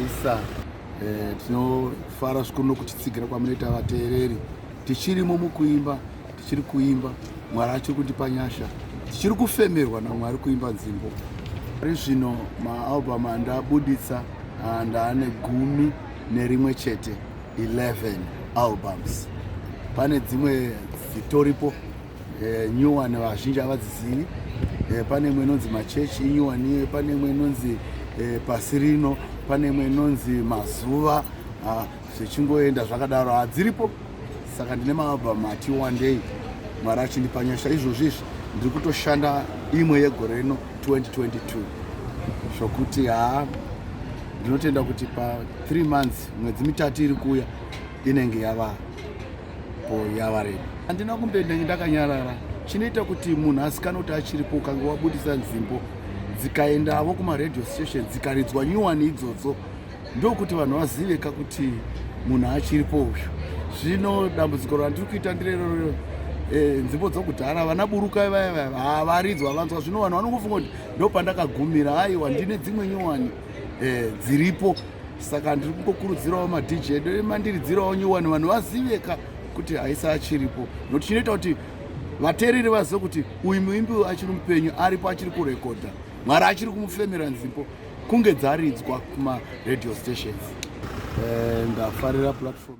isa eh, tinofara zvikuru nokutitsigira kwamunoita vateereri tichirimo mukuimba tichiri kuimba mwari achiri kundipa nyasha tichiri kufemerwa namwari kuimba nzimbo ari zvino maalbum andabuditsa ah, ndaane gumi nerimwe chete 11 albums pane dzimwe dzitoripo eh, new one vazhinji havadzizivi eh, pane imwe inonzi machechi new one pane imwe inonzi eh, pasi rino pane imwe inonzi mazuva ah, zvichingoenda zvakadaro hadziripo saka ndine maalbum ati one day mwari achindipa nyasha izvozvi izvi ndiri kutoshanda imwe yegore rino 2022 zvokuti haa ndinotenda kuti pa 3 months mwedzi mitatu iri kuuya inenge yavaa yavarema handina kumbenda ndakanyarara chinoita kuti munhu asikana kuti achiripo ukange wabudisa nzimbo dzikaendavo kumaradio station dzikaridzwa nyuwani idzodzo ndokuti vanhu vaziveka kuti munhu achiripo uyu zvino dambudziko randiri kuita ndirerorero Eh, nzvimbo dzokudhara vana buruka vaya vaya havaridzwa vanzwa zvino vanhu vanongofunga kuti ndopandakagumira aiwa ndine dzimwe nyowani eh, dziripo saka ndiri kungokurudzirawo madj edu mandiridzirawo nyowani vanhu vaziveka kuti haisa achiripo nokuti chinoita kuti vateereri vazive kuti uyu muimbi uyu achiri mupenyu aripo achiri kurekodha mwari achiri kumufemera nzimbo kunge dzaridzwa kumaradio stations eh, ndafarira platform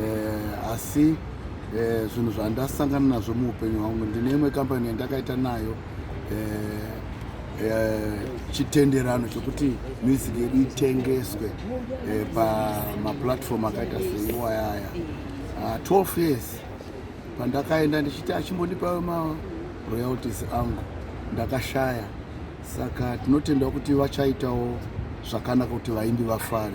eh, asi eh, zvinhu zvandasangana nazvo muupenyu hwangu ndine imwe kambani yandakaita nayo eh, eh, chitenderano chekuti music yedu itengeswe eh, pamaplatform akaita seiwayaya uh, ah, 12 years pandakaenda ndichiti achimbondipawo maroyalties angu ndakashaya saka tinotenda kuti vachaitawo zvakanaka kuti vaimbi vafare